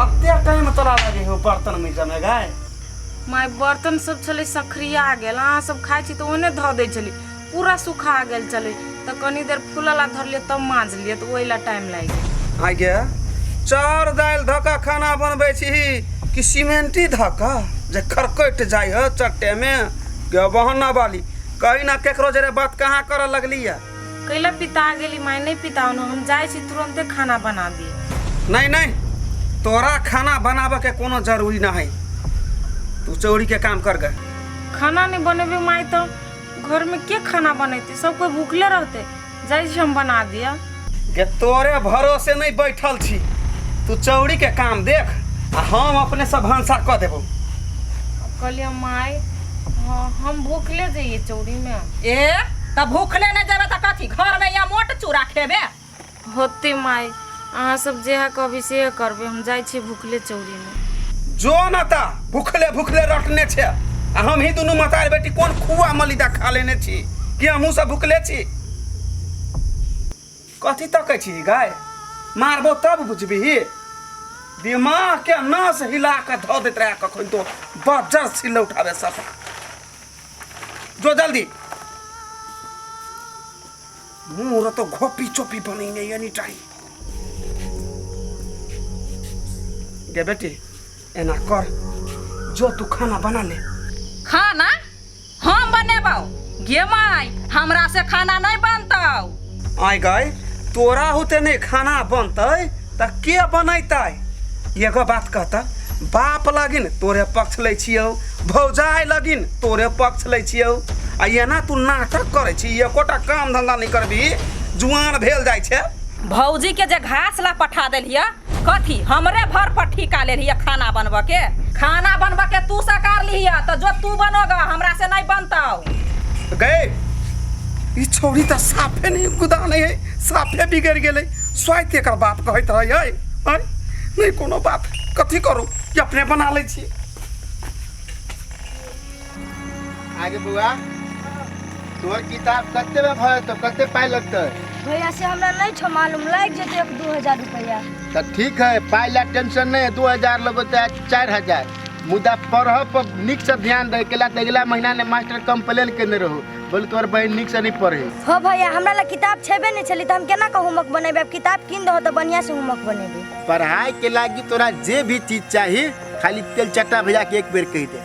अब ते कहीं में तोरा लगे हो बर्तन में जमे गाय माय बर्तन सब छलै सखरिया गेल अहाँ सब खाइ छी तऽ ओने धऽ दै छली पूरा सुखा गेल छलै तऽ कनी देर फूलऽ ला धरलियै तब माँजलियै तऽ ओहि ला टाइम लागि गेल आगे चाउर दालि धऽ कऽ खाना बनबै छी कि सीमेंटी धऽ कऽ जे खरकटि जाइ हो चट्टेमे के बहना वाली कहीं ना केकरो जरे बात कहाँ करऽ लगली है कैला पिता गेली माय नहीं पिताओ न हम जाय छी तुरंते खाना बना दी नहीं नहीं तोरा खाना बनाबे के कोनो जरूरी ना है तू चोरी के काम कर गए खाना नहीं बनेबे माय तो घर में के खाना बनेते सब कोई भूखले रहते जाय छी हम बना दिया के तोरे भरोसे नहीं बैठल छी तू चौरी के काम देख आ हम अपने सब भंसा कऽ देबो अब कहलिए माय हाँ हम भूखले जइए चौरी में ए त भूखले न जेबे त कथी घर में या मोट चूड़ा खेबे होते माई अहाँ सब जेहा कहबी सेहे करबे हम जाइ छी भूखले चौरी में जो न त भूखले भूखले रटने छे आ हम ही दुनू मतार बेटी कोन खुआ मलिदा खा लेने छी कि हमहूँ सब भूखले छी कथी तकै छी गाय मारबो तब बुझबिही दिमाग के नस हिला के धऽ दैत रहै कखन तो बजर सिल्ले उठाबे सब जो जल्दी मुँह र तो घोपी चोपी बनैने एनी टाइम गे बेटी एना कर जो तू खाना बना ले खाना हम बनेबौ गे माय हमरा से खाना नहीं बनतौ आय गए तोरा होते नहीं खाना बनतै त के बनैतै एगो बात कहता बाप लगिन तोरे पक्ष लै छियौ भौजाय लगिन तोरे पक्ष लै छियौ आ एना तू नाटक करै छी एकोटा काम धंधा नहीं करबी जुआन भेल जाइ छै भौजी के जे घास ला पठा देलियै कथी हमरे भर पर ठीका ले लिया खाना बनबऽ के खाना बनबऽ के तू सकार लिया तो जो तू बनोगा हमरा से नहीं बनतौ गए ई छौरी त साफे नहीं गुदा नहीं है साफे बिगड़ गेलै स्वाति एकर बाप कहैत रहै है आँय? नहीं कोनो बात कथी करू ई अपने बना लै छी आगे बौआ तोहर किताब कते में भरे तो कते पाई लगते भैया से हमरा नहीं छो मालूम लाग जेते एक दू हजार रुपया तो ठीक है पाई ला टेंशन नहीं है दो हजार लोग होते हैं चार हजार मुदा पढ़ पर निक से ध्यान दे केला तो अगला महीना ने मास्टर कंप्लेन करने रहो बोल तोहर बहन निक से नहीं पढ़े हो भैया हमरा ला किताब छेबे नहीं छली त हम केना के होमवर्क बनेबे अब किताब किन दहो त बढ़िया से होमवर्क बनेबे पढ़ाई के लागी तोरा जे भी चीज चाहिए खाली तेल चट्टा भैया के एक बेर कह दे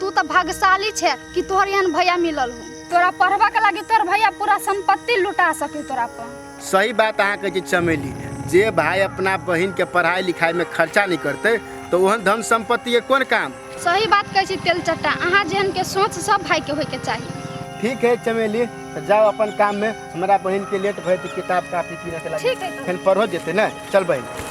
तू तो भाग्यशाली छे कि तोहर एहन भैया मिलल हो तोरा पढ़बा के लागी तोर भैया पूरा संपत्ति लुटा सके तोरा पर सही बात अहाँ कहै छी चमेली जे भाय अपना बहिन के पढ़ाई लिखाई में खर्चा नहीं करते तो ओहन धन संपत्ति के कोन काम सही बात कहै छी तेल चट्टा अहाँ जेहन के सोच सब भाई के होय के चाहिए ठीक है चमेली तो जाओ अपन काम में हमारा बहन के लेट भय किताब काफी पीने के लगे ठीक है तो। फिर पढ़ो जेते ना चल बहन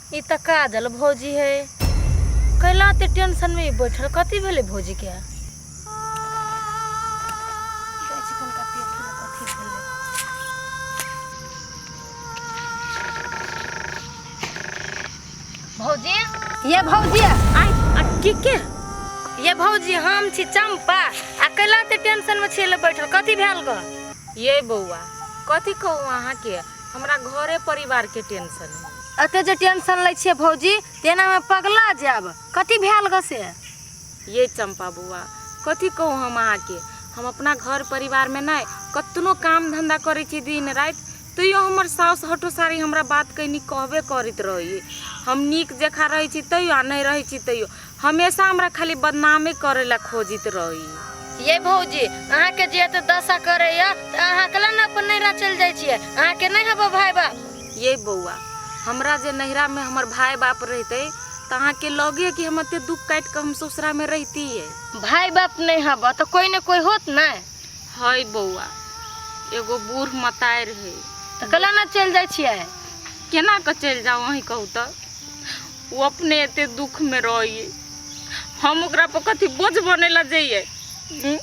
ई तऽ काजल भौजी है कैला ते टेंशन में बैठल कथी भेले भौजी के भौजी ये भौजी आई आ के के ये भौजी हम छी चंपा आ कैला ते टेंशन में छेले बैठल कथी भेल ग ये बौआ कथी कहू अहाँ के हमरा घरे परिवार के टेंशन है एते जे टेंशन लै छियै भौजी तेना में पगला जायब कथी भेल ग से ये चंपा बुआ कथी कहू हम अहाँ के हम अपना घर परिवार में नहीं कतनो काम धंधा करे छी दिन रात तैयो हमर साउस हटो सारी हमरा बात कहनी कहबे करत रही हम नीक जखा रहे छी तैयो आ नहीं रहे छी तैयो हमेशा हमरा खाली बदनामे करे ला खोजित रही ये भौजी अहाँ के जे एते दशा करे या त अहाँ कला न अपन नैरा चल जाय छियै अहाँ के नहीं हबो भाई बा ये बौआ हमरा जे नैहरा में हमर भाई बाप रहते त अहाँ के लगे कि हम एते दुख काट के हम ससुरा में रहती है भाई बाप नहीं हबो त कोई न कोई होत न हई बौआ एगो बूढ़ मतार है त कला न चल जाय छियै केना के चल जाओ वही कहू त ओ अपने एते दुख में रहिए हम ओकरा पर कथी बोझ बने ला जाइए हम्म?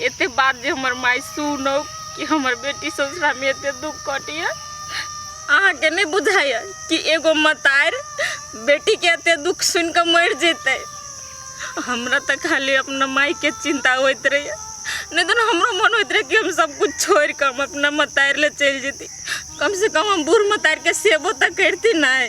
एते बात जे हमर माई सुनो कि हमर बेटी ससुरा में एते दुख कटिए अहाँ के नहीं बुझाइए कि एगो मतार बेटी के एते दुख सुन के मर जेतै हमरा तऽ खाली अपना माई के चिंता होइत रहे नहीं तो हमरो मन होइत रहे कि हम सब कुछ छोड़ के हम अपना मतार ले चल जेती कम से कम हम बूढ़ मतार के सेबो तऽ करती नहीं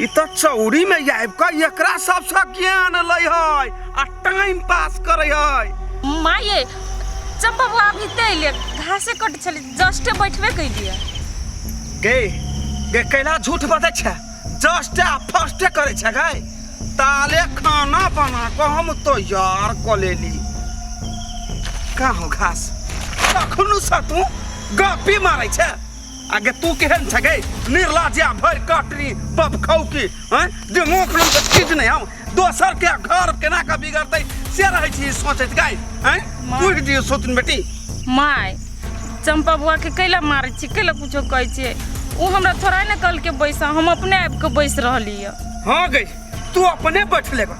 ई तो चौरी में आबि कऽ एकरा सबसँ ज्ञान लै है आ टाइम पास करै है माये चंपा बुआ अभी ते अइले घासे कट छले जस्टे बैठबे कैलिए गे गे कैला झूठ बजै छै जस्ट आ फर्स्ट करै छै गे ताले खाना बना कऽ हम तैयार कऽ लेली का हो घास कखनो सँ तू गपी मारै छै आगे तू केहन छगे निर्लाज्या भरि कटरी बब खौकी हैं जे मुख नाम के चीज नहीं हम दोसर के घर केना के बिगड़तै से रहै छी सोचैत गाय हैं माँ। पूछ दियो सोतिन बेटी माय चंपा बुआ के कैला मारै छी कैला कुछो कहै छियै ओ हमरा थोड़ा ने कहलकै बैसा हम अपने आबि कऽ बैस रहली यऽ हाँ गई तू अपने बैठ लेगा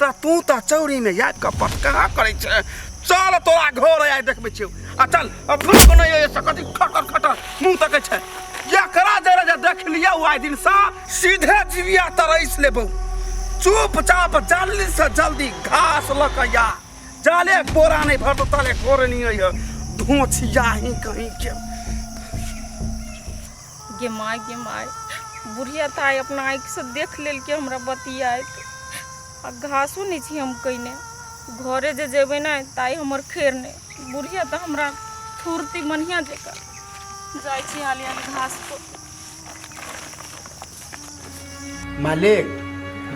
तऽ तू तऽ चौरीमे याद कऽ पटका करै छै चल तोरा घर आइ देखबै छियौ आ चल अपनो कोनो ये सकति खटर खटर मुंह तकै छै एकरा जरा जे देख लिया ओ आइ दिन सा सीधे जीविया तरैस लेबौ चुपचाप जल्दी से जल्दी घास लऽ कऽ या जाले कोरा नहि भरतो ताले कोरे नहीं है धोछिया ही कहीं के गे माय गे माय बुढ़िया ताय अपना आँखिसँ देख लेलकै हमरा बतियाइत आ घासो नहि छी हम कयने घरे जे जेबै ने ताइ हमर खेर नहि बुढ़िया तऽ हमरा थुरती मनिया जकाँ जाइ छी हाली हाली घास पर मालिक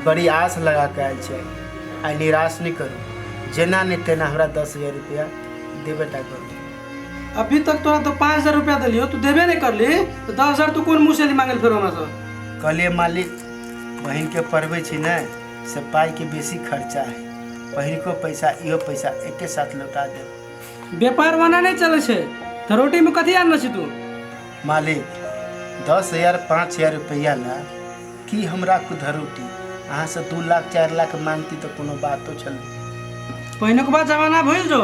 बड़ी आस लगा कऽ आयल छै आइ निराश नहि करू जेना नहि तेना हमरा दस हजार रुपया देबे टा करू अभी तक तोरा तो पाँच हजार रुपया दिलियो तू देबे नहीं करली तो दस हजार तू कौन मुँह से ली मांगल फिर हमरा से कहलिए मालिक बहिनके पढ़बै छी ने से पाइके बेसी खर्चा है पहिलको पैसा इहो पैसा एके साथ लौटा देब व्यापार वना नहीं चले छे तो रोटी में कथी आनल छी तू मालिक दस हजार पाँच हजार रुपया ला की हमरा कुधर रोटी अहाँ से दू लाख चार लाख मांगती तो कोनो बातो छल पहले के बाद जमाना भूल जो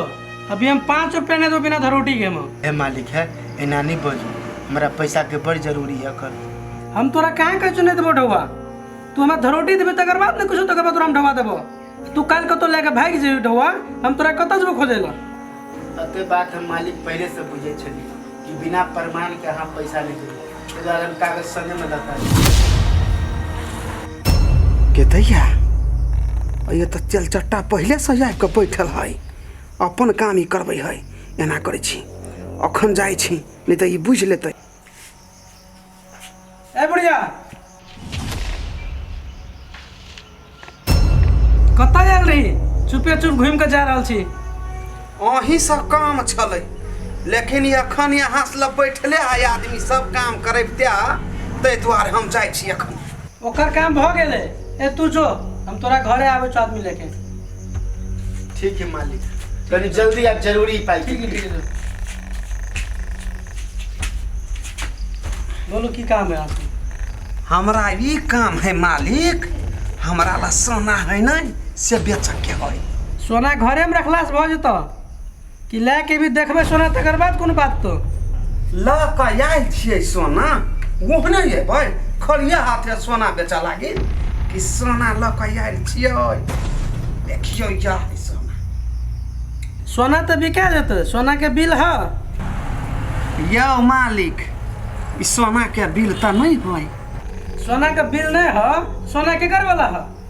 अभी हम पाँच रुपया नहीं दो बिना धरोटी के हम हे मालिक है एना नहीं बोलू हमरा पैसा के बड़ जरूरी है कल हम तोरा कहाँ कह चुने देबो ढौआ तू हमरा धरोटी देबे तकर बाद ने कुछ तकर बाद तोरा हम ढौआ देबो तू काल कतो लेके भाग जे ढवा हम तोरा कतो जब खोजे ला अते बात हम मालिक पहले से बुझे छली कि बिना प्रमाण के हम पैसा नहीं देबो एहि दुआरे हम कागज संगे में लता के दैया ये तऽ चल चट्टा पहिले से आबि कऽ बैठल है अपन काम ई करबै है एना करै छी अखन जाइ छी नहि तऽ ई बुझि लेतै ए बुढ़िया कतऽ जायल रही चुपे चुप घूमि कऽ जा रहल छी अहीं सब काम छलै लेकिन ई एखन यहाँ से बैठले है आदमी सब काम करैबते ताहि दुआरे हम जाइ छी एखन ओकर काम भ गेले ए तू जो हम तोरा घरे आवे छ आदमी लेके ठीक है मालिक तनी जल्दी आप जरूरी पाई ठीक है ठीक है बोलो की काम है आपको हमरा ई काम है मालिक हमरा ला सोना है नहीं से बेचक के है सोना घरे में रखला से भ जतो कि लए के भी देखबै सोना तकर बाद कोनो बात तो लऽ कऽ आयल छियै सोना ओहने अयबै खलिया हाथे सोना बेचऽ लागी कि सोना लऽ कऽ आयल छियै देखियौ यह है सोना सोना तऽ बिका जेतै सोनाके बिल है यौ मालिक ई सोनाके बिल तऽ नहि है सोनाके बिल नहि है सोना केकर वाला है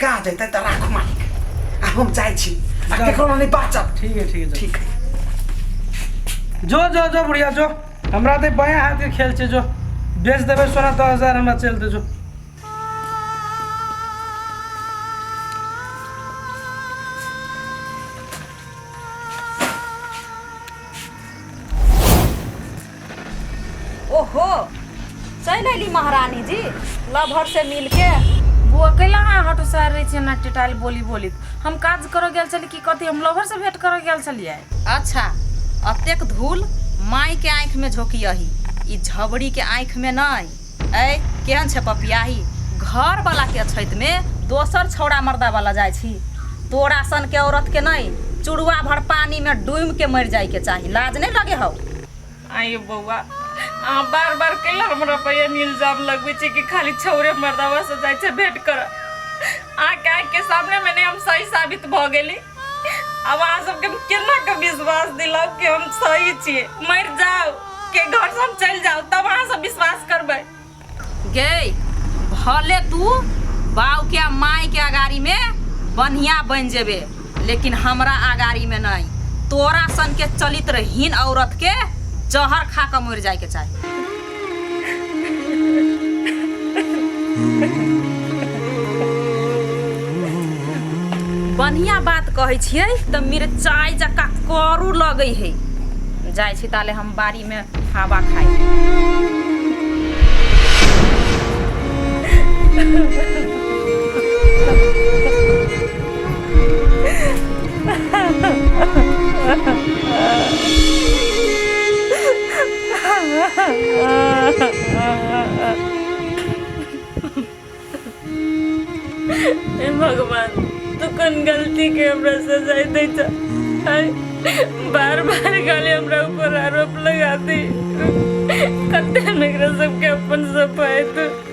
काज एतै तऽ राख मालिक आ हम जाइ छी आ केकरो नहि बाचत ठीक है ठीक है ठीक है जो जो जो बुढ़िया जो हमरा तऽ बाया हाथ के खेल छै जो बेच देबै सोना दस हजार हमरा चल दे जो ओहो चलि अयली महारानी जी लभर से मिलके बौआ कैला अहाँ हटो सर रहे छियै ना टिटाइल बोली बोली हम काज करऽ गेल छली कि कथी हम लोभर से भेंट करऽ गेल छलियै अच्छा अतेक धूल माय के आँखि में झोंकियही ई झबरी के आँखि में नहीं ऐ केहन छै पपियाही घर वाला के अछैत मे दोसर छौड़ा मर्दा वाला जाय छी तोरा सन के औरत के नै चुड़वा भर पानी में डूम के मर जाय के चाही लाज नै लगे हौ आयो बौआ अहाँ बार बार कैला हमरा पर एहन इल्जाम लगबै छी कि खाली छौरे मर्दावा से जाय छै भेंट कर अहाँ के आँख के सामने में नै हम सही साबित भ गेली अब अहाँ सबके हम केना के विश्वास दिलाउ कि हम सही छियै मर जाउ के घर से हम चलि जाउ तब अहाँ सब विश्वास करबै गई भले तू बाऊ के आ माई के अगाड़ी में बढ़िया बन जेबे लेकिन हमरा अगाड़ी में नहीं तोरा सन के चलित्रहीन औरत के जहर खा के मर जाए के चाही बढ़िया बात कहै छियै तऽ मिरचाइ जका करू लगै है जाइ छी ताले हम बाड़ी में हवा खाइ Ha ha ha. हे भगवान तू कौन गलती के हमरा सजाय दे छ आय, बार बार खाली हमरा ऊपर आरोप लगाती कते नगरा सबके अपन सफाई तू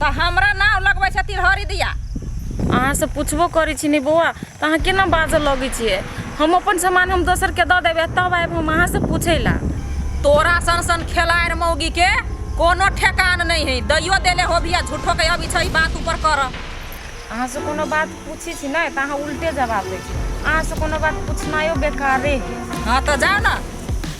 तऽ हमरा नाव लगबै छथिन हरि दिया अहाँ से पूछबो करै छी ने बौआ तऽ अहाँ केना बाजऽ लगै छियै हम अपन सामान हम दोसर के दऽ देबै तब आबि हम अहाँ से पूछै ला तोरा सन सन खेलाड़ मौगी के कोनो ठेकान नहीं है दैयो देले हो भी झूठो के अभी छै बात ऊपर कर अहाँ से कोनो बात पूछी छी नहीं तऽ अहाँ उल्टे जवाब दै छी अहाँ से कोनो बात पूछनायो बेकारे है हाँ तो जाओ ना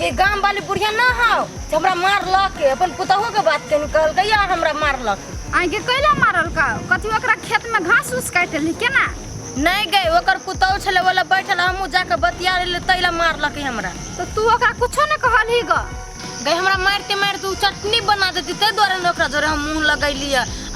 ये गांव वाली बुढ़िया ना हो जे हमरा मारलक के अपन पुतहू के बात कहीं कहलकै यार हमरा मारलक आइ के कैला मारल का कथी ओकरा खेत में घास उस काटि ली केना नहीं गए ओकर पुतहू छले वाला बैठल हमहू जाके बतिया रहले तैला मारलक हमरा तो तू ओकरा कुछो ने कहलही ग गए हमरा मारते मारते उ चटनी बना देती ते द्वारा ने ओकरा जोरे हम मुंह लगैली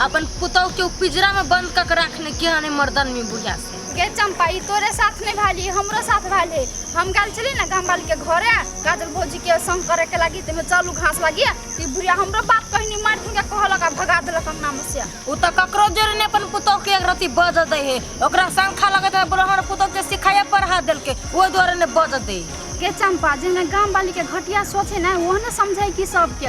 अपन पुतहू के उ पिंजरा में बंद कक रखने के हने मर्दन में बुढ़िया से गे चम्पा ई तोरे साथ नहि भेल ई हमरो साथ भेल हे हम गेल छली ने गामवालीके घरे काजल भौजीके सङ्ग करैके लागी ताहिमे चलू घास लागी ई बुढ़िया हमरो बात कहनी मारि के कहलक आ भगा देलक अंगनामे से ओ तऽ ककरो जोरे ने अपन पुतोहके एक रत्ती बजऽ दै हे ओकरा शंखा लगैत है ब्रह्मण पुतोहके सिखाइए पढ़ा देलकै ओहि दुआरे ने बजऽ दै हे। गे चम्पा जेहने गामवालीके घटिया सोच है ने ओहने समझै कि सबके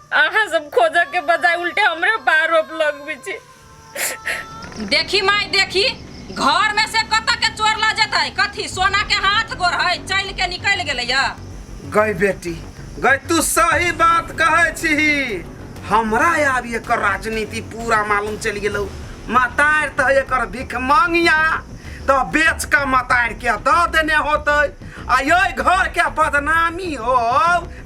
अहाँ सब खोजऽ के बजाय उल्टे हमरे पर आरोप लगबै छी देखी माय देखी घर में से कत के चोर ल जेतै कथी सोना के हाथ गोर है चल के निकल गेलै या गई बेटी गई तू सही बात कहे छी हमरा आब एकर राजनीति पूरा मालूम चल गेलो मतार तो है एकर भिख मांगिया तो बेच के मतार के द देने होते आ ये घर के बदनामी हो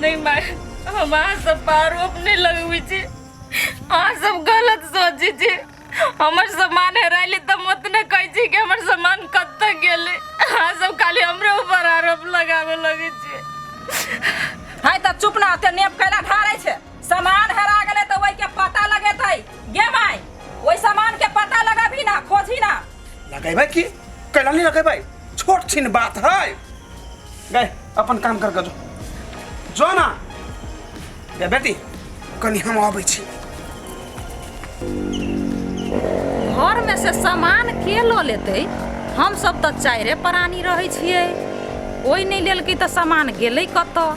नहीं माय हम अहाँ सब पर आरोप नहीं लगबै छी अहाँ सब गलत सोचै छी हमर सामान हेराइले तऽ हम ओतने कहै छी कि हमर सामान कतऽ गेलै अहाँ सब खाली हमरे ऊपर आरोप लगाबे लगै छी है तऽ चुप ना ते नेप कैला ढारै छै सामान हेरा गेलै तऽ ओहि के पता लगेतै गे माय ओहि सामान के पता लगबही ना खोजही ना लगेबै की कैला नहीं लगेबै छोट छिन बात है गए अपन काम कर जो जो ना ए बेटी कनी हम आबै छी घर में से सामान के लो लेते हम सब तो चारे प्राणी रहे छिए कोई नहीं लेलकै तो सामान गेलै कतऽ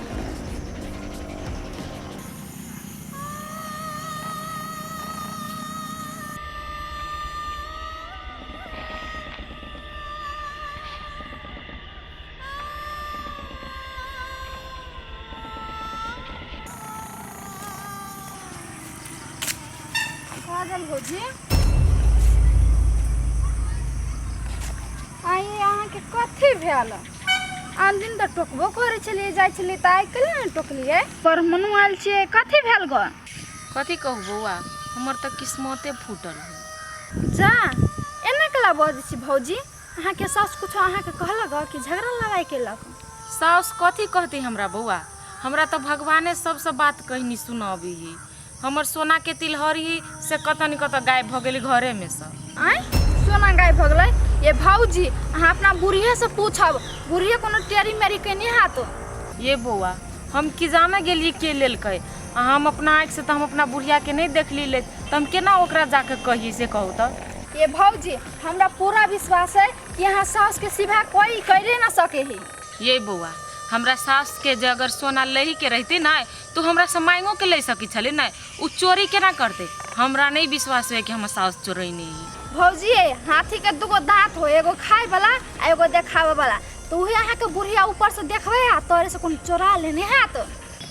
पागल हो जी आइए अहाँके कथी भेल आन दिन तऽ टोकबो करै छलियै जाइ छलियै तऽ आइ काल्हि ने टोकलियै पर मनु आयल छियै कथी भेल गऽ कथी कहू बौआ हमर तऽ किस्मते फूटल है जा एना कला बजै छी भौजी अहाँके सास कुछो अहाँके कहलक गऽ कि झगड़ा लड़ाइ केलक साउस कथी कहती हमरा बौआ हमरा तऽ भगवाने सबसँ बात कहनी सुनाबी हमर सोना के तिलहरी से कतऽ नि कतऽ गायब भऽ गेली घरे में से आँय सोना गाय भऽ गेलै ये भाउजी अहाँ अपना बुढ़िया से पूछब बुढ़िया कोनो टेरी मेरी केने हाथ ये बौआ हम की जाने गेलिए के लेलकै आ हम अपना आँखि से तऽ हम अपना बुढ़िया के नहि देखली ले तऽ हम केना ओकरा जाके कहिए से कहू तऽ ये भाउजी हमरा पूरा विश्वास है कि अहाँ सास के सिवा कोई करे ना सके ही ये बौआ हमरा सास के जे अगर सोना लही के रहती ना तू हमरा से मांगो के ले सकी छले ना उ चोरी केना करते हमरा नहीं विश्वास हुए कि हम साउस चोरी नहीं है भौजी ये हाथी के दूगो दांत हो एगो खाए वाला आ एगो देखावे वाला तो उहे अहाँ के बुढ़िया ऊपर से देखबे आ तोरे से कोन चोरा लेने है तो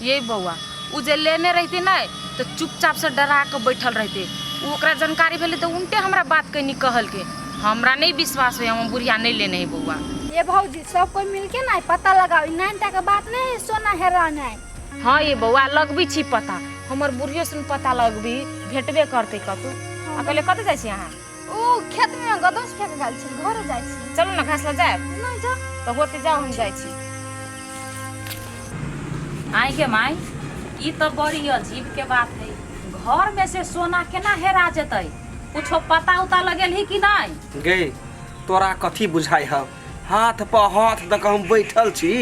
ये बउआ उ जे लेने रहते ना तो चुपचाप से डरा के बैठल रहते उ ओकरा जानकारी भेले तो उनटे हमरा बात कहनी कहल के हमरा नहीं विश्वास हुए हम बुढ़िया नहीं लेने है बउआ ये भौजी सब कोई मिलके ना पता लगाओ नानटा के बात नहीं सोना हेरा नहीं हाँ ये बौआ लगबी छी पता हमर बुढ़ियो सुन पता लगबी भेटबे करते कतू आ पहले कत जाय छी अहाँ ओ खेत में गदस फेंक गेल छी घर जाय छी चलू ना घास ल जाय नहीं जा तो होते जाओ हम जाय छी आई के माई ई तो बड़ी अजीब के बात है घर में से सोना केना हेरा जेतै कुछो पता उता लगेल ही कि नहीं गई तोरा कथी बुझाई हव हाथ पर हाथ दऽ कऽ हम बैठल छी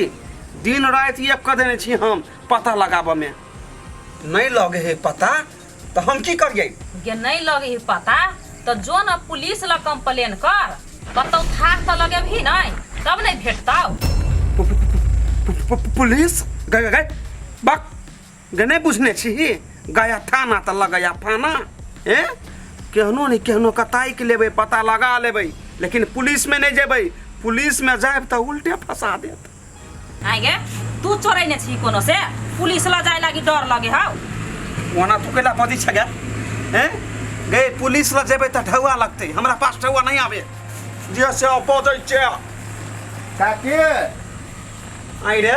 दिन राति एक कऽ देने छी हम पता लगाबऽमे नहि लगे हे पता तऽ हम की करियै गे नहि लगे हे पता तऽ जो ने पुलिस लग कंप्लेन कर कतौ थाह तऽ लगेबही नहि तब नहि भेटतौ पुलिस गए गए बक जे नहि बुझने छी गया थाना तऽ लगैया फाना ए केहनो नहि केहनो के ताकि लेबै पता लगा लेबै लेकिन पुलिसमे नहि जेबै पुलिसमे जायब तऽ उल्टे फंसा देत आइ गे तू चोरै ने छी कोनो से पुलिस लऽ जाए लागी डर लगे हौ ओना तू कैला पदी छ गया ए गए पुलिस लग जेबै तऽ ढौआ लगतै हमरा पास ढौआ नहि आबे जे से बजै छै काकी आइ रे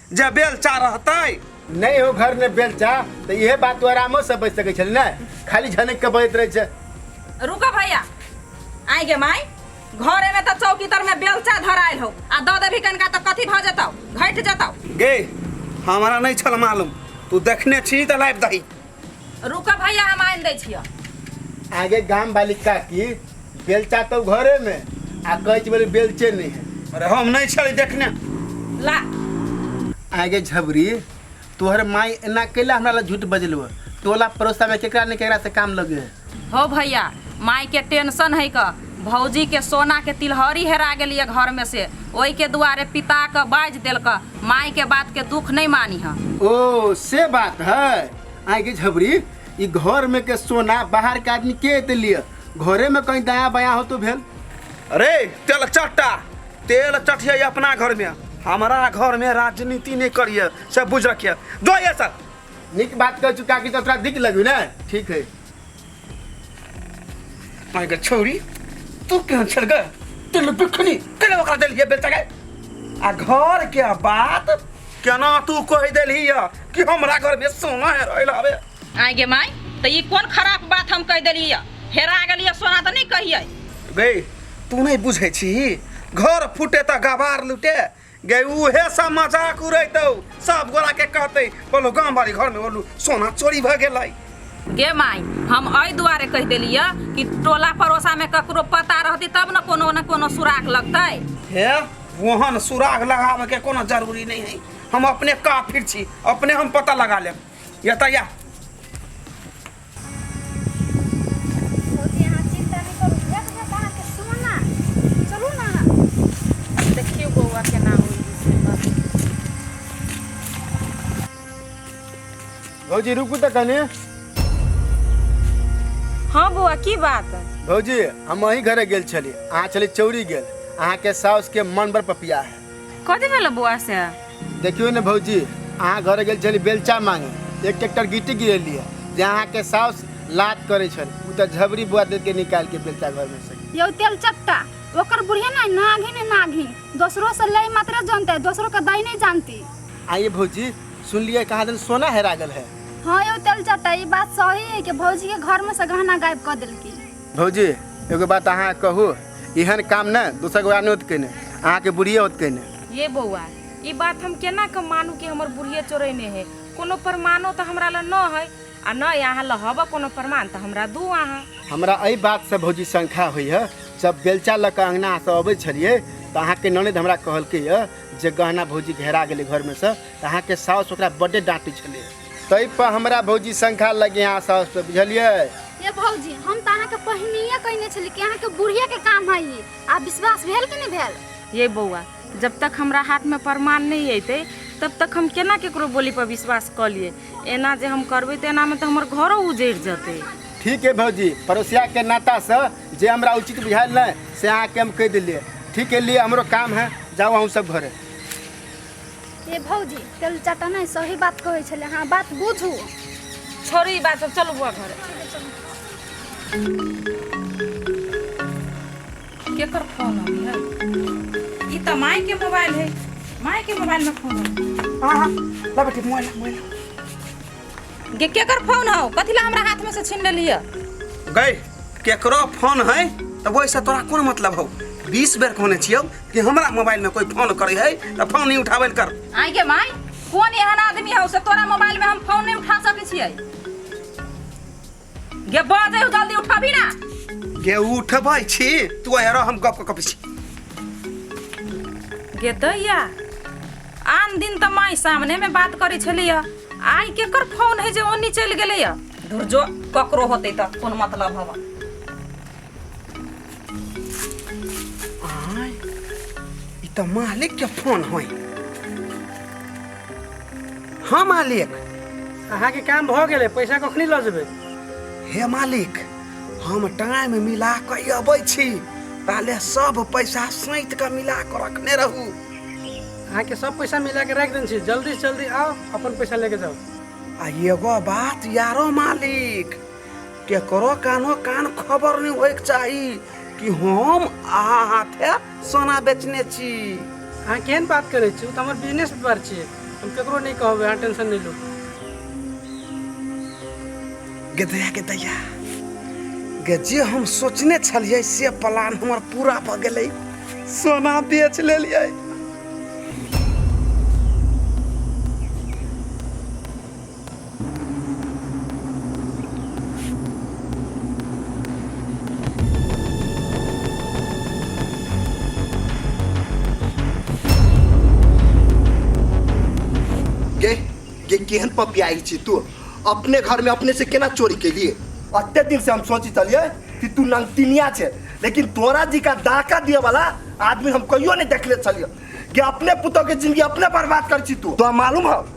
जे बेलचा रहतै नहीं हो घर में बेलचा तो यह बात तो आरामो से बच सके छल ने खाली झनक के बजत रहे छे रुको भैया आइ गे माई घरे में तो चौकी तर में बेलचा धरायल हो आ दऽ देबही कनका तो कथी भऽ जेतौ घटि जेतौ गे हमरा नहीं छल मालूम तू देखने छी तऽ लाबि दही रुक भैया हम आनि दै छियो आगे गाम वाली काकी बेलचा तो घरे में आ कैच वाली बेलचे नहीं है अरे हम नहीं छली देखने ला आगे झबरी तोहर माई एना कैला हमरा ला झूठ बजलवा टोला पड़ोसा में केकरा ने केकरा से काम लगे है हौ भैया माय के टेंशन है क भौजी के सोना के तिलहरी हेरा गेलिए घर में से ओहि के दुआरे पिता के बाज देल क माय के बात के दुख नहीं मानी है ओ से बात है आए के झबरी ई घर में के सोना बाहर के आदमी के ते लिए घरे में कहीं दाया बाया हो तो भेल अरे तेल चट्टा तेल चटिया अपना घर में हमारा घर में राजनीति नहीं करिए से बुझ रखिए दो ये सर निक बात कह चुका कि तो तोरा दिक लगू ना ठीक है माय गॉड छोरी तू केहन छल गे तेल बिखनी केले ओकरा देलिए बेटा गे आ घर के बात केना तू कह देलही या कि हमरा घर में सोना है रहल हवे आइ गे माय तऽ ई कोन खराब बात हम कहि देलियै हेरा गेलियै सोना तऽ नहि कहियै गई तू नहीं बुझे छी घर फूटे तो गवार लूटे गै उहे सब मजाक उड़ैतौ सब गोरा के कहते बोलो गांव बारी घर में बोलू सोना चोरी भ गेलै गे माई हम एहि दुआरे कहि देलिए कि टोला पड़ोसा में ककरो पता रहती तब न कोनो न कोनो सुराग लगतै हे वहन सुराग लगाबे के कोनो जरूरी नहीं है हम अपने काफिर छी अपने हम पता लगा लेब यता या भौजी रुकू तऽ कने हाँ बौआ की बात भौजी हम अही घरे गेल छली अहाँ छली चौरी गेल अहाँके साउस के मन बड़ पपिया है कथी भेल बौआ से देखियो ने भौजी अहाँ घर गेल छली बेलचा मांगे एक ट्रैक्टर गिट्टी गिरेलिए जे अहाँ के साउस लात करे छल उ त झबरी बुआ दे के निकाल के बेलचा घर में से यौ तेल चट्टा ओकर बुढ़िया ना नाघी ने नाघी दोसरो से ले मात्र जानते दोसरो के दाई नहीं जानती आइए भौजी सुन लिए कहा दिन सोना हेरा गल है हाँ यौ तेल चट्टा ई बात सही है कि भौजी के घर में से गहना गायब कर दिलकी भौजी एगो बात अहाँ कहू एहन काम ने दोसर गोरा नहि होत कने अहाँके बुढ़िए होत कने ये बौआ ई बात हम केना के मानू कि हमर बुढ़िए चोरेने है कोनो प्रमाणो तऽ हमरा लग न है आ न अहाँ लग हबऽ कोनो प्रमाण तऽ हमरा दू अहाँ हमरा एहि बातसँ भौजी शंका होइए जब बेलचा लऽ कऽ अङ्गनासँ अबै छलियै तऽ अहाँके ननद हमरा कहलकै यए जे गहना भौजी घेरा गेलै घरमे सँ तऽ अहाँके साउस ओकरा बड्डे डाँटै छलै तै पर हमरा भौजी संख्या लगे यहाँ साउस पे बुझलिए ये भौजी हम तो अहाँ के पहिनिए कहने छली कि अहाँ के बुढ़िया के काम है ई आ विश्वास भेल कि नहीं भेल ये बौआ जब तक हमरा हाथ में प्रमाण नहीं अतै तब तक हम केना केकरो बोली पर विश्वास कऽ लिए एना जे हम करबै तऽ एनामे तऽ हमर घरो उजड़ि जेतै ठीक है भौजी पड़ोसिया के नाता से जे हमरा उचित बुझायल नहीं से अहाँ के हम कह दिलिए ठीक है लिए हमरो काम है जाओ हम सब घरे ए भौजी तेल चाटा नहीं सही बात कहे छले हाँ बात बुझू छोड़ू ई बात सब चलू बुआ घर केकर फोन आबी है ई त माई के मोबाइल है माई के मोबाइल में फोन है हाँ हाँ ला बेटी मोबाइल मोबाइल गे केकर फोन हौ कथी ला हमरा हाथ में से छीन लेलिए गई केकरो फोन है तब ओहिसँ तोरा कोन मतलब हौ बीस बेर कहने छियौ कि हमरा मोबाइलमे कोइ फोन करै है तऽ फोन नहि उठाबै लए कर आई गे माई कौन एहन आदमी हौ से तोरा मोबाइल में हम फोन नहीं उठा सके छियै गे बढ़ दे जल्दी उठाबी ना गे उठबै छी तू हेर हम गप कऽ कबै छी गे दैया आन दिन तऽ माई सामने में बात करै छलियै आइ केकर फोन है जे ओन्नी चलि गेलैया धुर जो ककरो होतै तऽ कोन मतलब हवा आय ई तऽ मालिक के फोन होय हाँ मालिक अहाँ के काम भऽ गेलै पैसा कखनी लऽ जेबै हे मालिक हम टाइम मिला कऽ अबै छी ताले सब पैसा सैत कऽ मिला कऽ रखने रहू अहाँ के सब पैसा मिला के राखि देने छी जल्दी से जल्दी आओ अपन पैसा लेके जाओ आ एगो बात यारो मालिक केकरो कानो कान खबर नहीं होइक चाही कि हम अहा हाथे सोना बेचने छी अहाँ केहन बात करै छी ओ तऽ हमर बिजनेस व्यापार छियै हम केकरो नहि कहबै अहाँ टेंशन नहि लू गदया गदया गे जे हम सोचने छलियै से प्लान हमर पूरा भऽ गेलै सोना बेच लेलियै गे गे केहन पपियाई छी तू अपने घर में अपने से केना चोरी के लिए अते दिन से हम सोची चलिए कि तू नंगतिनिया छे लेकिन तोरा जी का दाका दिए वाला आदमी हम कहियो नहीं देखले चलिए गे अपने पुतोह के जिंदगी अपने बर्बाद कर छी तू तो मालूम है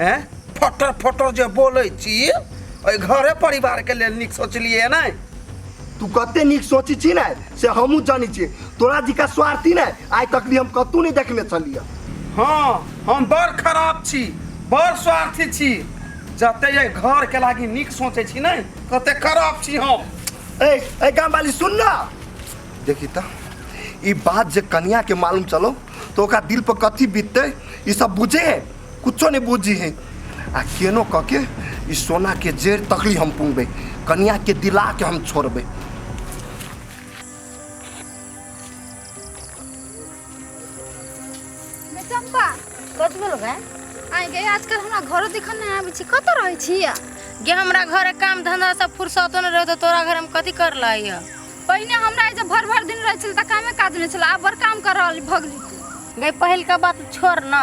ए फटर फटर जे बोलै छी ओहि घरे परिवार के लेल नीक सोचलिए ने तू कते नीक सोची छी ने से हमहूँ जानी छी तोरा जिका स्वार्थी ने आइ तक भी हम कतहु नहीं देखने छलियै हाँ हम बड़ खराब छी बड़ स्वार्थी छी जते ये घर के लागी नीक सोचे छी ने तते खराब छी हम ए ए गाम वाली सुन ना देखी त ई बात जे कनिया के मालूम चलो तो ओकरा दिल पर कथी बीतते ई सब बुझे है कुछो नहीं बुझी है आ केनो कह के ई सोना के जेर तकली हम पुंगबे कन्या के दिला के हम छोड़बे बे चंपा कथी भेल गए आइ गए आजकल हमरा घरो देखल नहीं आबै छी कतऽ रहै छी या गे हमरा घरे काम धंधा से फुर्सतो न रहतो तोरा घर हम कथी कर लाई है पहिने हमरा जे भर भर दिन रहै छल तऽ कामे काज नहि छल आब बड़ काम कर रहल भगली गई पहिल का बात छोड़ ना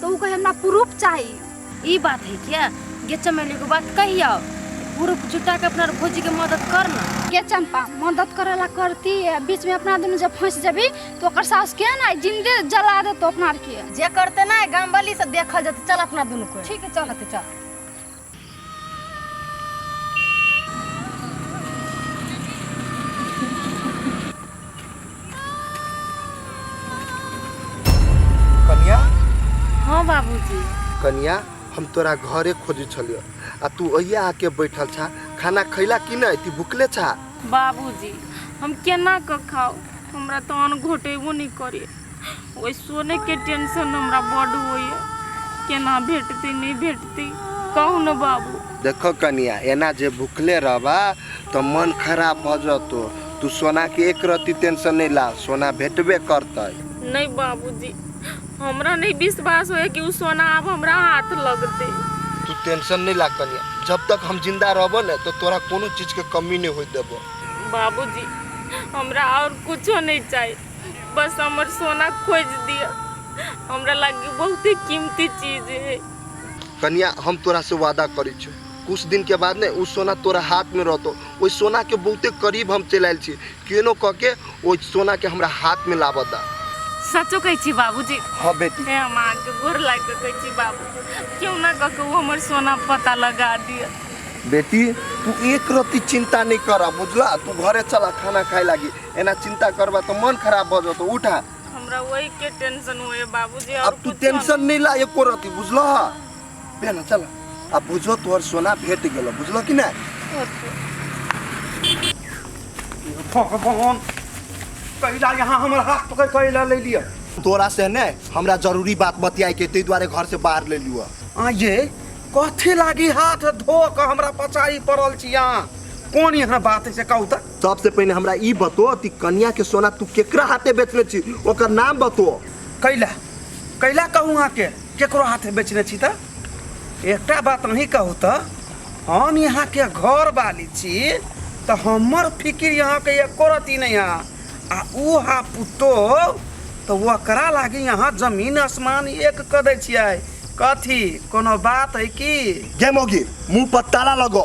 तो उ कहे हमरा प्रूफ चाहिए ई बात है क्या गे चमेली को बात कहियो प्रूफ जुटा के अपना भौजी के मदद कर ना के चंपा मदद करे ला करती है बीच में अपना दुनू जब फंस जबी तो ओकर सास के ना जिंदे जला दे तो अपना आर के जे करते ना गाम वाली से देखल जते चल अपना दुनू को ठीक है चल चल कन्या हाँ बाबूजी कन्या हम तोरा घरे खोजी छलियो आ तू अहिया आके बैठल छा खाना खैला कि नहीं ती भुखले छा बाबूजी हम केना कऽ खाऊ हमरा तो अन्न घोटेबो नहीं करे ओहि सोनेके टेंशन हमरा बड होइए केना भेटतै नहि भेटतै कहू ने बाबू देखो कनिया एना जे भुखले रहबा तऽ मन खराब भऽ जतो तू सोना के एक रत्ती टेंशन नहीं ला सोना भेटबे करते नहीं बाबूजी हमरा नहीं विश्वास होए कि उ सोना अब हमरा हाथ लगते तू टेंशन नहीं ला कनिया जब तक हम जिंदा रहबो ने तो तोरा कोनो चीज के कमी नहीं हो देबो बाबूजी हमरा और कुछो नहीं चाहिए बस हमर सोना खोज दिया हमरा लागे बहुते कीमती चीज है कन्या हम तोरा से वादा करी छु कुछ दिन के बाद ने उ सोना तोरा हाथ में रहतो ओइ सोना के बहुते करीब हम चल आयल छी केनो कह के ओइ सोना के हमरा हाथ में लाबऽ दा सचो कहै छी बाबूजी हाँ बेटी हे हम अहाँके गोर लागि कऽ कहै छी बाबू केओ ना कऽ के ओ हमर सोना पता लगा दिअ बेटी तू एक रत्ती चिंता नहीं करा बुझला तू घरे चला खाना खाए लागी एना चिंता करबा तो मन खराब भ जतो उठा हमरा वही के टेंशन होए बाबूजी और अब तू कुछो टेंशन नहीं ला एको रति बुझल हा बेना चल अब बुझो तोहर सोना भेट गेल बुझल कि ना भगवान कैला यहाँ हमर हाथ पकड़ कैला ले लिया तोरा से ने हमरा जरूरी बात बतियाए के ते दुआरे घर से बाहर ले लियो आ ये कथी लागी हाथ धो के हमरा पचाई पड़ल छी यहाँ कोन यहाँ बात है से कहू तक सबसे पहले हमरा ई बतो कि कन्या के सोना तू केकरा हाथे बेचने छी ओकर नाम बतो कैला कैला कहूँ अहाँ के केकरो हाथ बेचने छी तऽ एकटा बात अहीं कहू तऽ हम यहाँ के घर वाली छी तऽ हमर फिकिर यहाँ के एको रती नहीं है आ ऊ हा पुतो तऽ ओकरा लागी यहाँ जमीन आसमान एक कऽ दै छियै कथी कोनो बात है की गे मौगी मुंह पर ताला लगो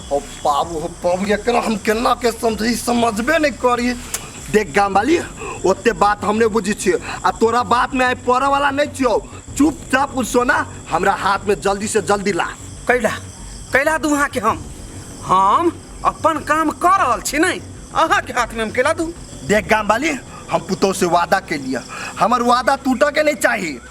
हो बाबू हो बाबू एकरा हम केना के समझी समझबे नहीं करी देख गाम वाली ओते बात हमने बुझी छियो आ तोरा बात में आए पड़े वाला नहीं छियो चुपचाप उ सोना हमरा हाथ में जल्दी से जल्दी ला कैला कैला दू अहाँके हम हम अपन काम कर रहल छी नहीं अहाँके हाथमे हम कैला दू देख गाम वाली हम पुतोह से वादा के लिए हमर वादा टूटे के नहीं चाहिए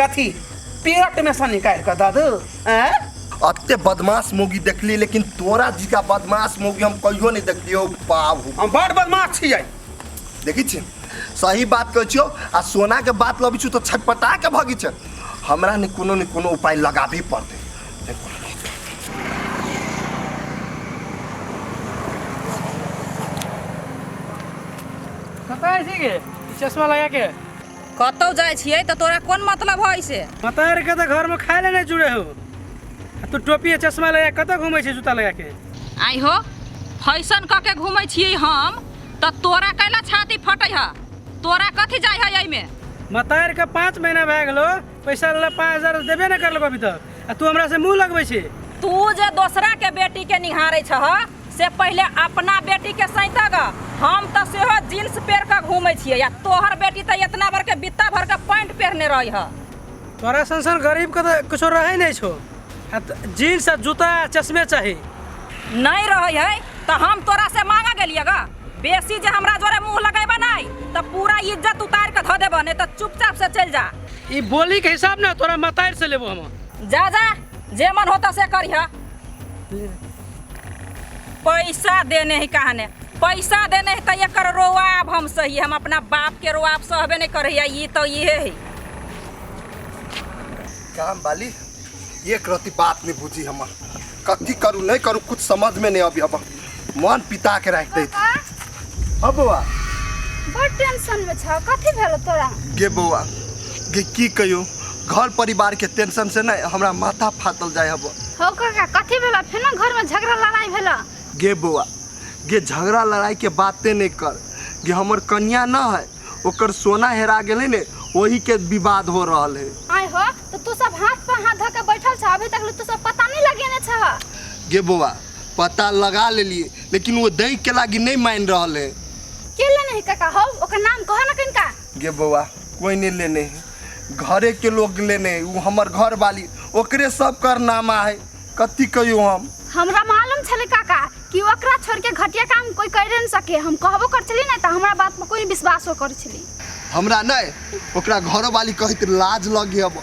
कथी पेट में से निकाल के दादू हैं अत्य बदमाश मोगी देखली लेकिन तोरा जी का बदमाश मोगी हम कहियो नहीं देखलियो बाबू हम बड़ बदमाश छी जाई देखी छी सही बात कहै छियो आ सोना के बात लबी छु तो छटपटा के भगी छ हमरा ने कोनो ने कोनो उपाय लगाबी पड़ते कतऽ छी के चश्मा लगा के कतौ जाइ छियै तऽ तोरा कोन मतलब है से मतार के तऽ घर में खाए ले नहीं जुड़े हो आ तू टोपी आ चश्मा लगा के कतऽ घूमे छी जूता लगा के आई हो फैशन कऽ के घूमै छियै हम तऽ तोरा कैला छाती फटै है तोरा कथी जाइ है एहिमे मतार के पाँच महीना भए गेलो पैसा वाला पाँच हजार देबे न करलक अभी तक आ तू हमरा से मुंह लगबै छी तू जे दोसरा के बेटी के निहारे छह से पहले अपना बेटी के सैत ग हम तो सेहो जींस पेर के घूमे छिए या तोहर बेटी तो इतना भर के बित्ता भर के पैंट पहनने रही ह तोरा संसन गरीब के तऽ कुछो रहै नहि छौ आ त- जीन्स आ जूता आ चश्मे चाही नहीं रही है तो हम तोरा से मांगा गेलिए ग बेसी जे हमरा जोरे मुंह लगेबा नै त पूरा इज्जत उतार के ध देबा नै त चुपचाप से चल जा ई बोली के हिसाब ना तोरा मतार से लेबो हम जा जा जे मन होता से करिहा पैसा देने है कहने पैसा देने है त एकर रोआब हम सही हम अपना बाप के रोआब सहबे नै करहिया ई तो इहे है काम वाली एक रति बात नहीं बुझी हमर कथी करू नहीं करू कुछ समझ में नहीं अभी अब मन पिता के राख दे पापा हो बौआ बड़ टेंशन में छ कथी भेल तोरा गे बौआ गे की कहियो घर परिवार के टेंशन से नहीं हमरा माथा फाटल जाय हब हो काका कथी भेल फेनो घर में झगड़ा लड़ाई भेल गे बौआ गे झगड़ा लड़ाई के बाते नहीं कर गे हमर कन्या न है ओकर सोना हेरा गेले ने वही के विवाद हो रहल है आय हो तो तू सब हाथ पर हाथ धके बैठल छ अभी तक ले तू सब पता नहीं लगेने छ गे बौआ पता लगा लेलिए लेकिन वो दही के लागी नहीं मान रहल है केला नहीं काका हो ओकर नाम कह ना कनका गे बौआ कोई नहीं लेने है घरे के लोग लेने है वो हमर घर वाली ओकरे सब करनामा है कति कहियो हम हमरा मालूम छले काका कि ओकरा छोड़ के घटिया काम कोई कर नहीं सके हम कहबो कर छली ना तो हमरा बात पर कोई विश्वास हो कर छली हमरा नहीं ओकरा घरो वाली कहित लाज लगे अब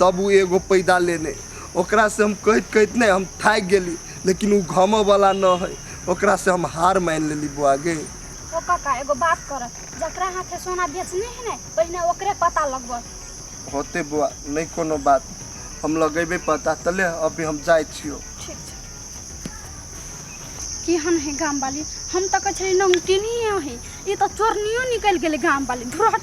तब ओ एगो पैदा लेने ओकरा से हम कहैत कहैत नहि हम थाकि गेली लेकिन ओ घमऽ वाला न है ओकरा से हम हार मान लेली बुआ गे ओ काका एगो बात कर जकरा हाथे सोना बेचने है ने पहिने ओकरे पता लगबऽ होते बुआ नहीं कोनो बात हम लगेबे पता तले अभी हम जाए छियो ठीक छै केहन है गाम वाली हम तऽ कहै छलियै नमकीनिये है ई तऽ चोरनियो निकलि गेलै गाम वाली धुरहट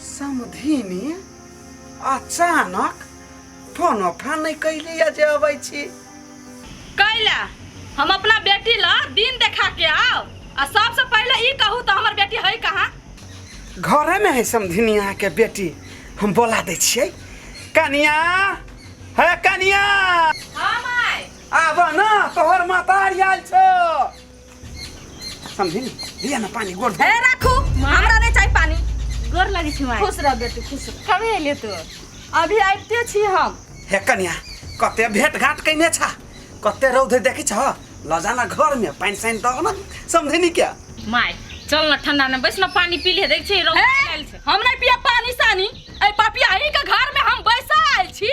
समधिनी अचानक फोन ओफा नहीं कैली जे अबै छी कैला हम अपना बेटी ला दिन देखा के आओ आ सबसे पहले ई कहू तो हमर बेटी है कहाँ घरे में है समधिनी अहाँ के बेटी हम बोला दै छियै कनिया है कनिया हाँ माय आब न तोहर मातारी आयल छौ समझी दिया ना पानी गोड़ हे राखू हमरा नहीं चाहिए पानी गोर लगे छी माय खुश रह बेटी खुश रह कभी अइले तू अभी आबिते छी हम हे कन्या कते भेट घाट कैने छा कते रौद देखी छ लजाना घर में पानी साइन दो ना समझे नहीं क्या माय चल ना ठंडा में बैस ना पानी पी ले देख छी रौद हे, आयल छै हम नहीं पिया पानी सानी ए पापिया ही के घर में हम बैसा आयल छी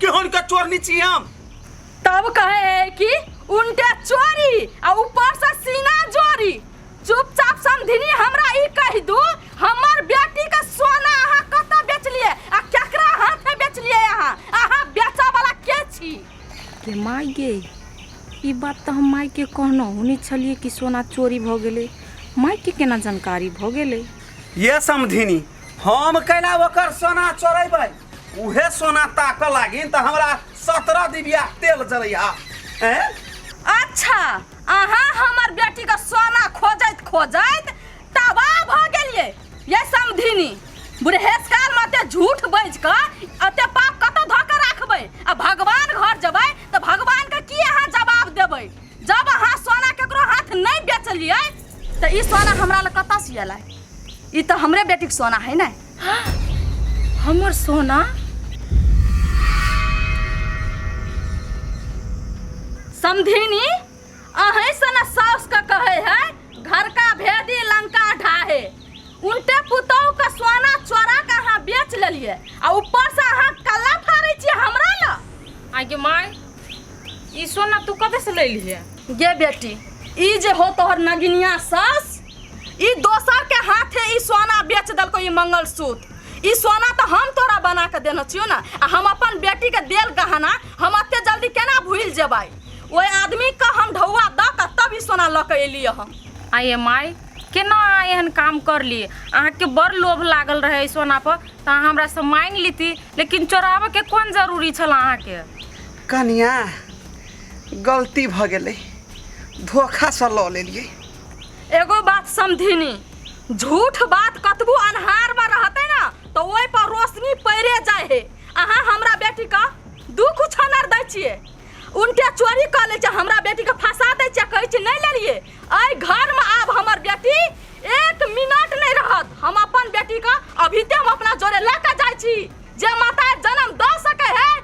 केहन के चोरनी छी हम तब कहे है कि उनके चोरी आ ऊपर से सीना जोरी चुपचाप समधिनी हमरा ई कह दू हमर बेटी के सोना अहाँ कत बेचलिए आ केकरा हाथे बेचलिए अहाँ अहाँ बेचऽ वाला के छी के माय गे ई बात तऽ हम माय के कहनौ हुनी छलिए कि सोना चोरी भऽ गेलै माय के केना जानकारी भऽ गेलै ये समधिनी हम कैला ओकर सोना चोरेबै उहे सोना ताक लागिन त हमरा सत्रह दिबिया तेल जरैया हैं अच्छा अहाँ हमर बेटी के सोना खोजैत खोजैत तबाह भ गेलिए ये समधिनी बुढ़ेस काल में अते झूठ बज क अते पाप कत धऽ के राखबै आ भगवान घर जेबै तऽ भगवान के की अहाँ जवाब देबै जब अहाँ सोना केकरो हाथ नहि बेचलिए तऽ ई सोना हमरा लग कतऽ से एलै ई तऽ हमरे बेटीके सोना है ने हमर सोना समधिनी अहें से ना सास का कहे है घर का भेदी लंका ढाहे उनते पुतोह का सोना चोरा का अहाँ बेच लेलिए आ ऊपर से अहाँ कल्ला फाड़े छियै हमरा ला आगे माय ई सोना तू कतऽ से लैली है गे बेटी ई जे हो तोहर नगिनिया सास ई दोसर के हाथे ई सोना बेच दलको ई मंगलसूत्र ई सोना तो हम तोरा बना के देने छियो ना आ हम अपन बेटी के देल गहना हम अते जल्दी केना भूल जेबै ओए आदमी के हम ढौआ द के तब ई सोना ल के एलिए हम आइ एम आई केना अहाँ एहन काम कर लिए अहाँके बड़ लोभ लागल रहै सोना पर तऽ अहाँ हमरा से मांगि लीती लेकिन चोराबऽ के कोन जरूरी छल अहाँके कनिया गलती भऽ गेलै धोखासँ लऽ लेलियै एगो बात समधिनी झूठ बात कतबो अन्हार में रहते ना तो ओहि पर रोशनी पैरे जाए है अहाँ हमरा बेटी का दू कुछ अनर दै छिए उनके चोरी कर ले छे हमरा बेटी के फंसा दै छे कहै छे नहीं लेलिए एहि घर में आब हमर बेटी एक मिनट नहीं रहत हम अपन बेटी का अभी ते हम अपना जोरे लेके जाए छी जे माता जन्म द सके है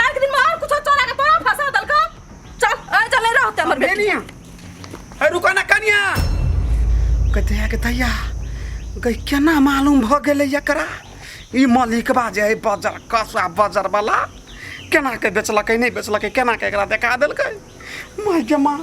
काल के दिन में और कुछ चोरा के तोरा फंसा दल का चल आ जा ले रहते हमर बेटी कनिया ए रुका ना कनिया कहते हैं कि तैया गई केना मालूम भ गेलै एकरा ई मालिक बाजे है बजर कसुआ बजर वाला केना के बेचलकै नहि बेचलकै केना के एकरा देखा देलकै माय गे माय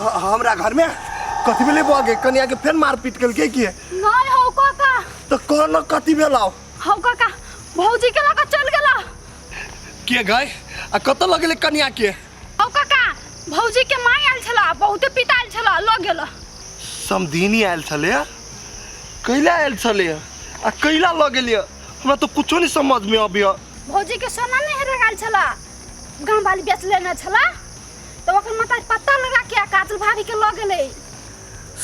ह- हमरा घर में कथी भेलै बौआ के कनिया के फेर मारपीट केलकै कि नहीं हो काका तो कहलो कथी भेलाओ हो काका भौजी के लगा चल गेला के गए आ कतऽ लगेले कनिया के हो काका भौजी के माय आयल छला बहुते पिताल छला लग गेला समधिनी आयल छलै कैला आयल छलै आ कैला लऽ गेलियै हमरा तो कुछो नहीं समझ में अबिया भौजी के सोना नहीं हेरा गेल छला गाँव वाली बेच लेना छला तो ओकर माता पता लगा के काजल भाभी के लग गेले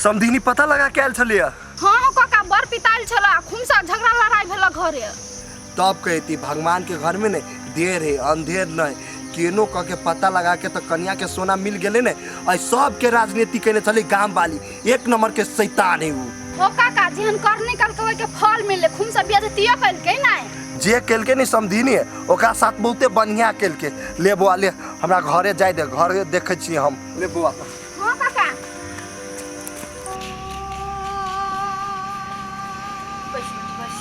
समधिनी पता लगा के आयल छलिए हाँ हो काका बर पिताल छला खुमसा झगड़ा लड़ाई भेला घरे तब कहती भगवान के घर में ने देर है अंधेर नहीं केनो कह के पता लगा के तो कन्या के सोना मिल गेले ने और सबके राजनीति कैले छली गांव वाली एक नंबर के शैतान है ऊ हो काका जेहन कर निकल के ओके फल मिले खून सब बिया दियो कल के नहीं जे केलके नहीं समझीनी है ओकरा साथ बहुते बढ़िया केलके ले बौआ ले हमरा घरे जाए दे घरे देखे छिए हम ले बौआ हो काका बस बस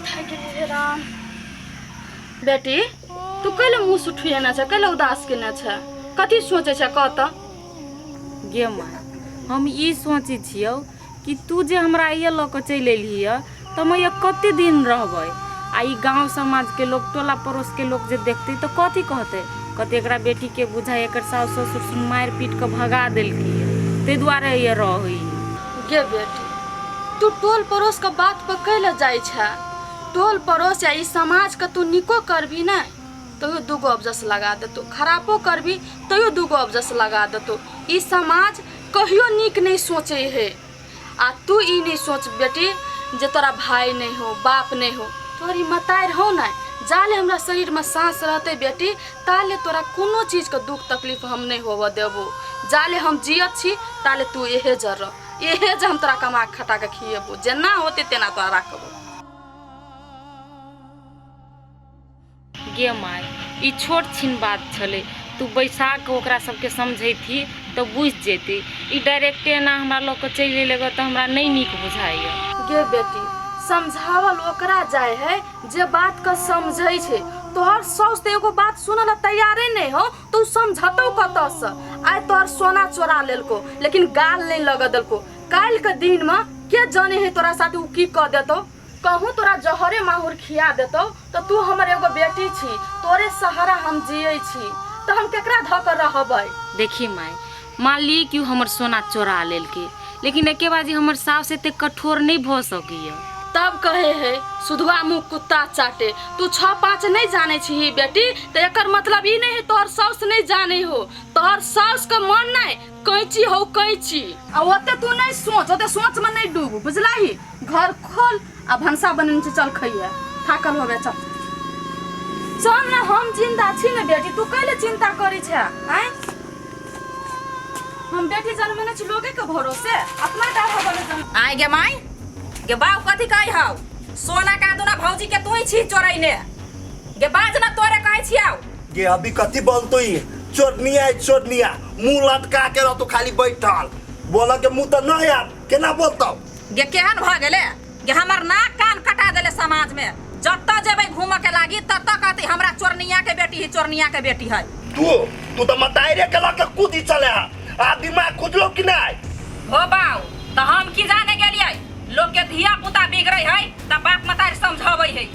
थक गेली रे राम बेटी तू कैले मुंह सुठियाना छै कैले उदास केना छै कथी सोचे छै कह त गे माँ हम ई सोचै छियौ कि तू जे हमरा ये लऽ कऽ चलि एलही हँ तऽ हम ये कते दिन रहबै आ ई गाँव समाजके लोक टोला पड़ोसके लोक जे देखतै तऽ कथी कहतै कहतै एकरा बेटीके बुझाइ एकर साउस ससुर सुन मारि पीट कऽ भगा देलकी ताहि दुआरे ये रहै गे बेटी तू टोल पड़ोस के बात पर कैले जाइ छै टोल पड़ोस या ई समाजके तू नीको करबी ने तैयो दूगो अबजस लगा देतौ खरापो करबी तैयो दूगो अबजस लगा देतौ ई समाज कहियो नीक नहि सोचै हे आ तू ई नहि सोच बेटी जे तोरा भाय नहि हो बाप नहि हो तोहर ई मतारि हो ने जाले हमरा शरीरमे साँस रहतै बेटी ताले तोरा कोनो चीजके दुख तकलीफ हम नहि होबऽ देबो जाले हम जियत छी ताले तू एहे जर रह एहे जे हम तोरा कमा खटाके खिएबो जेना होतै तेना तोरा राखबो गे माय ई छोट छिन बात छलै तू बैसा कऽ ओकरा सबके समझैती तऽ बुझि जेती ई डायरेक्टे एना हमरा लऽ कऽ चलि एलै तऽ हमरा नहि नीक बुझाइए गे बेटी समझावल ओकरा जाय है जे बात के समझै छै तोहर साउस तऽ एगो बात सुनऽ लए तैयारे नहि हो तू समझतौ कतऽसँ आइ तोहर सोना चोरा लेलको लेकिन गाल नहि लगऽ देलको काल्हि के दिन में के जाने है तोरा साथ उ की कह देतो कहूँ तोरा जहरे माहुर खिया देतो तो तू हमर एगो बेटी छी तोरे सहारा हम जिये छी तो हम केकरा धऽ के रहबै देखी माय मान ली कि उ हमर सोना चोरा लेलके लेकिन एके बार जे हमर सास एते कठोर नहीं भ सकैया तब कहे है सुधवा मुँह कुत्ता चाटे तू छः पाँच नहीं जाने छी ही बेटी तो एकर मतलब ई नहीं है तोहर सास नहीं जाने हो तोहर सास के मन नहीं कैची हौ कैची आ ओते तू नहीं सोच ओते सोच में नहीं डूब बुझला ही घर खोल आ भंसा बनने से चल खइया थाकल होबे चल चल ना हम जिंदा छी ना बेटी तू कैले चिंता करी छे आय हम बेटी जन्म ने छी लोगे के भरोसे अपना डाढ़ा बने जन्म आय गे माय गे बाऊ कथी कहै हौ सोना का दुना भौजी के तू ही छी चोरैने गे बाज ना तोरे कहै छियौ गे अभी कथी बनतो ई चोरनिया है चोरनिया मुंह लटका के रहतो खाली बैठल बोला के मुंह तो ना यार केना बोलतो गे केहन भ गेले गे हमर नाक कान कटा देले समाज में जत्ता जेबै घूम के लागी तत्ता कहती हमरा चोरनिया के बेटी है चोरनिया के बेटी है तू तू तो मताई रे कला के कूदी चले हा आ दिमाग खुजलो कि नहीं हो बाऊ तो हम की जाने गेलिए लोग के धिया पुता बिगड़े है त बाप मतारी समझाबै है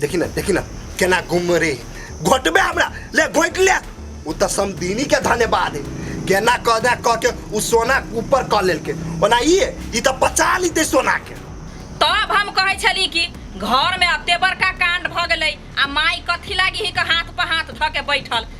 देखी ना देखी ना केना घूम रे घोटबे हमरा ले घोट ले उ त समदीनी के धन्यवाद है केना कह दे कह के उ सोना ऊपर कह लेलके ओना ई है, ई त पचा लीते सोना के तब हम कहै छली कि घर में अते बड़का कांड भऽ गेलै आ माई कथी लागी ही के हाथ पर हाथ धऽ के बैठल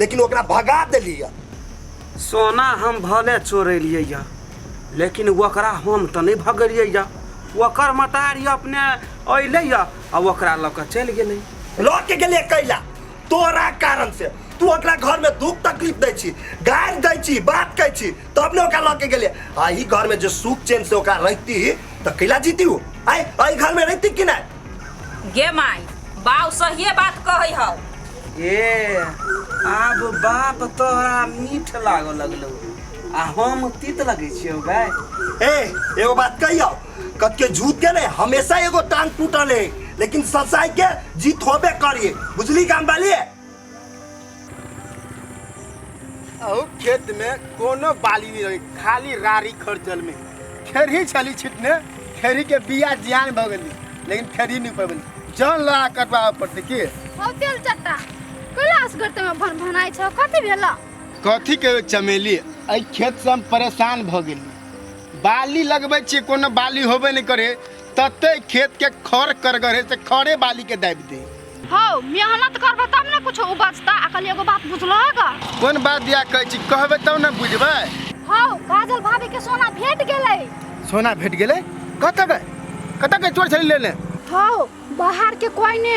लेकिन ओकरा भगा देलियै सोना हम भले चोरेलियै यऽ लेकिन ओकरा हम तऽ नहि भगेलियै यऽ ओकर मतारी अपने अयलै यऽ आ ओकरा लऽ कऽ चलि गेलै लऽ के गेलियै कैला तोरा कारण से तू ओकरा घर में दुख तकलीफ दै छी गारि दै छी बात कहै छी तब ने ओकरा लऽ के गेलियै आ ई घर में जे सुख चैन से ओकरा रहिती तऽ कैला जीती ओ आय एहि घर में रहिती कि नहि गे माई बाऊ सहिए बात कहै हौ ए आब बाप तोरा मीठ लागऽ लगलौ आ हम तीत लगै छियौ बे ए एगो बात कहियो कत के झूठ के ने हमेशा एगो टांग टूटल है लेकिन सच्चाई के जीत होबे करिए बुझली गाम वाली अहू खेत में कोनो बाली नहीं रही खाली रारी खर्चल में खेरही छली छिटने खेरही के बिया जियान भ गेली लेकिन खेरही नहीं पबली जान लगा कटवा पड़ते की हो तेल चट्टा कैलाश गर्त में भन भनाइ छ कति भेल कथी के चमेली एहि खेत से हम परेशान भ गेली बाली लगबै छियै कोनो बाली होबे नहि करे तते खेत के खर करगरे से खरे बाली के दाबि दे हौ मेहनत करबे तब ने कुछ उपजता अकल एगो बात बुझलो है का कोन बात दिया कहै छी कहबे तब ने बुझबै हौ काजल भाभी के सोना भेट गेलै सोना भेट गेलै कतऽ बे कतऽ के चोर छलै लेने हौ बाहर के कोई ने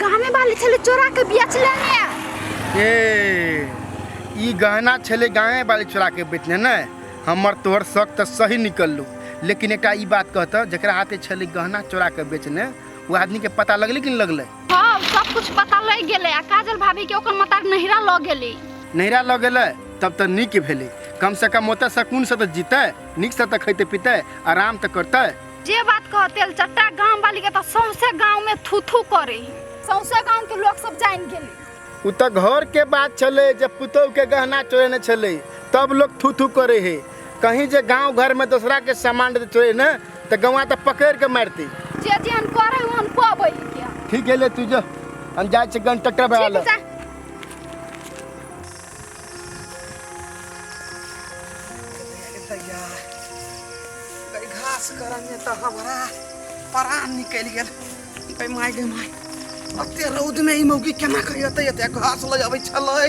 गाने वाली छले चोरा के बेच लेने ए ई गहना छलै गाँवे वाली चोरा के बेचने ने हमर तोहर शक तऽ सही निकललू लेकिन एकटा ई बात कहतऽ जकरा हाथे छलै गहना चोरा के बेचने वो आदमी के पता लगले कि नहीं लगले हाँ सब कुछ पता लग गेले आ काजल भाभी के ओकर मतार नहिरा लग गेली नहिरा लग गेले तब तो नीक भेले कम से कम ओते सकून से तो जीते नीक से तो खैते पीते आराम तो करते जे बात कह तेल चट्टा गांव वाली के तो सौंसे गांव में थू थू करे सौंसे गांव के लोग सब जान गेले उ तो घर के बात चले जब पुतोह के गहना चोरे न चले तब लोग थू थू करे है कहीं जे गांव घर में दूसरा के सामान चोरे न तऽ गौआ तऽ पकड़ि कऽ मारती जे जेहन करे ओहन कहबै के ठीक गेले तू जो हम जाइ छी गन टक्कर भए ठीक जा भैया कई घास करने तो हमारा परान निकल गेल कई माय गे माय अते रौद में ई मौगी केना करी अते अते घास लऽ जाबै छलै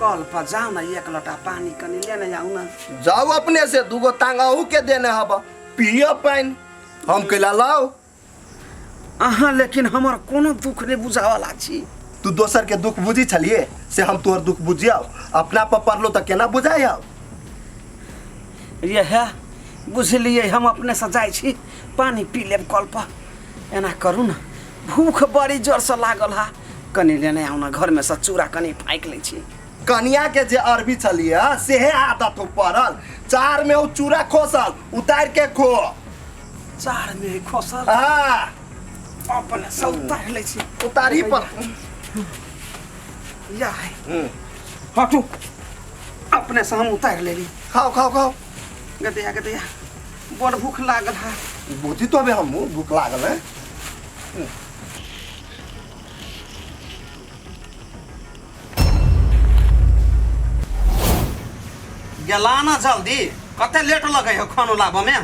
कल पर जाओ ना एक लोटा पानी कनी लेने जाओ ना जाओ अपने से दूगो तांगा अहू के देने हब पिय पानि हम कैला लाओ अहाँ लेकिन हमर कोनो दुख नहीं बुझावला छी तू दोसर के दुख बुझी छलिए से हम तोहर दुख बुझियाओ अपना पर पड़लो तो केना बुझाइयाओ यह बुझलिए हम अपने से जाइ छी पानी पी लेब कल पर एना करू ना भूख बड़ी जोर से लागल हा कनी लेने आउ ना घर में से चूड़ा कनी फाइक ले छी कनिया के जे अरबी चलिए सेहे आदत हो पड़ल चार में उ चूड़ा खोसल उतार के खो चार में खोसल हाँ अपने से उतार ले छी उतारी पर या है हटू अपने से हम उतार ले ली खाओ खाओ खाओ गदया गदया बड़ भूख लागल है बुद्धि तो अबे हमू भूख लागल है गेला ना जल्दी कते लेट लगे हो खानो लाबऽ में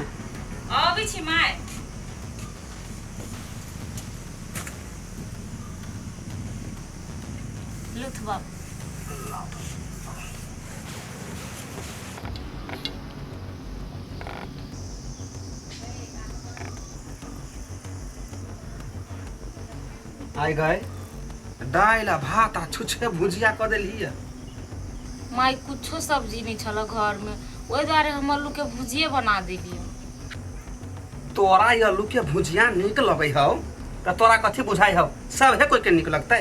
अबै छी माय लुथ बाबू आइ गए दालि आ भात आ छुछके भुजिया कऽ देलियै माय कुछो सब्जी नहीं छल घर में वही द्वारे हम आलू के भुजिए बना दिलिए तोरा ई आलू के भुजिया नीक लगे हौ तऽ तोरा कथी बुझाइ हौ सभे कोई के नीक लगतै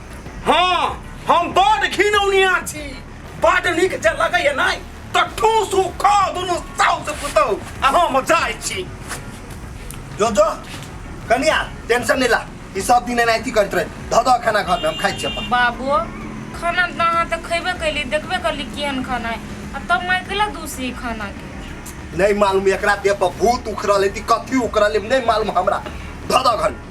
हाँ हम बड़ घिनौनिया छी बड़ नीक जे लगैए नहि तऽ ठूसू खा दुनू साउस पुतहु आ हम जाइ छी जो जो कनिया टेंशन नहीं ला ई सब दिन एनाहिती करैत रहे धऽ दऽ खाना घर में हम खाइ छी अपन बाबू खाना तऽ अहाँ तऽ खयबे कैली देखबे कैली केहन खाना है आ तब माय कैला दूसरी खाना के नहीं मालूम एकरा देह पर भूत उखड़ल है कि कथी उखड़ल है नहीं मालूम हमरा धऽ दऽ घर में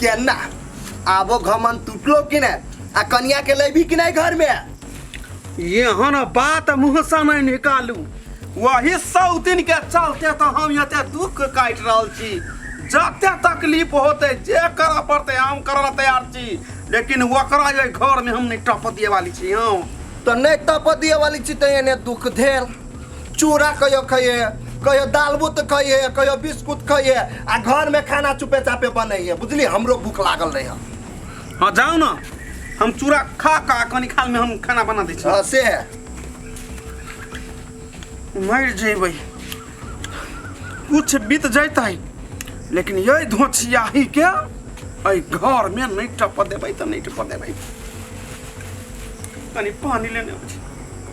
केना आबो घमन टूटलो कि ने आ कनिया के लेबी कि नहीं घर में एहन बात मुँह से नहीं निकालू वही सौ दिन के चलते तो हम एते दुख काट रहल छी जते तकलीफ होते जे करऽ पड़ते हम करऽ ला तैयार छी लेकिन ओकरा जे घर में हम नहीं टप दिए वाली छी हम तो नहीं तप दिए वाली छी तो एने दुख धेर चूड़ा कहियो खइहे कहियो दाल बुत खइहे कहियो बिस्कुट खइहे आ घर में खाना चुपे चापे बनैहे बुझली हमरो भूख लागल रहे हाँ जाओ ना हम चूड़ा खा खा कनी खाल में हम खाना बना दै छी हाँ से है मर जेबै कुछ बीत जैतै लेकिन यही धोछियाही के एहि घर में नहीं टप देबै तऽ नहीं टप देबै कनी पानी लेने आबै छी।